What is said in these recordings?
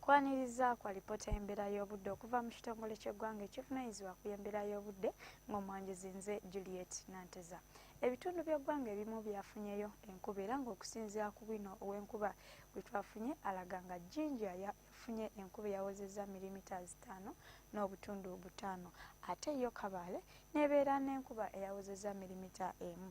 kwaniriza kwa lipoota y'embeera y'obudde okuva mu kitongole ky'eggwanga ekivunanyizibwa ku y'embeera y'obudde ng'omwanjuzi nze juliet nanteza ebitundu by'eggwanga ebimu byafunyeyo enkuba era ng'okusinziira ku bwino ow'enkuba gwe twafunye alaga nga jinja yafunye enkuba eyawozezza milimita zitaano n'obutundu butaano ate yo kabaale n'ebeera n'enkuba eyawozezza milimita emu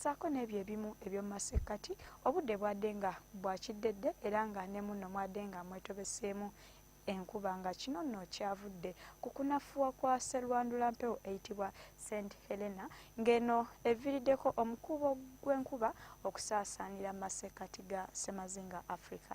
saako n'ebyo ebimu eby'omu masekkati obudde bwadde nga bwa kiddedde era nga ne munno mwadde nga mwetobeseemu enkuba nga kino nno kyavudde ku kunafuwa kwa serwandula mpewo eyitibwa st helena ng'eno eviiriddeko omukuubo gw'enkuba okusaasaanira mu masekkati ga ssemazinga africa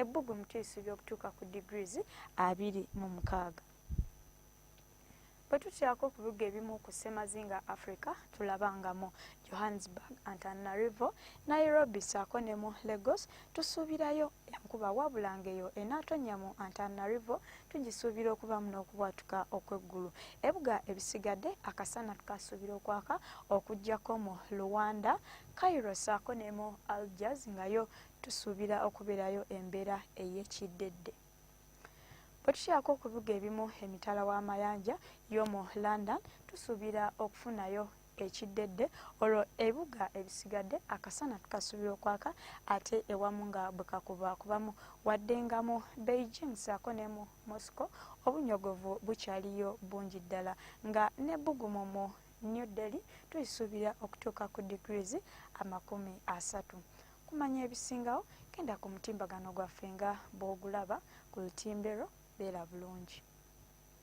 ebbugumu tuyisibwa okutuuka ku degrees abiri mu mukaaga bwe tutyako okubiga ebimu ku ssemazinga africa tulaba nga mu johannesburg antanarivo nairobi saako ne mu lagos tusuubirayo enkuba wabula ngaeyo enaatonya mu antanarivo tugisuubira okubamu n'okubwatuka okw'eggulu ebuga ebisigadde akasana tukasuubira okwaka okugyako mu luwanda cairo saako ne mu algers ngayo tusuubira okubeerayo embeera ey'ekiddedde. Bwe tukyako okubiga ebimu emitala w'amayanja y'omu London, tusuubira okufunayo ekiddedde olwo ebibuga ebisigadde akasana tukasuubira okwaka ate ewamu nga bwe kakuba kubamu wadde nga mu beijing saako ne mu moscow obunyogovu bukyaliyo bungi ddala nga n'ebbugumu mu new delhi tulisuubira okutuuka ku degrees amakumi asatu Okumanya ebisingawo genda ku mutimbagano gwaffe nga bw'ogulaba ku lutimbe lwo. Beera bulungi.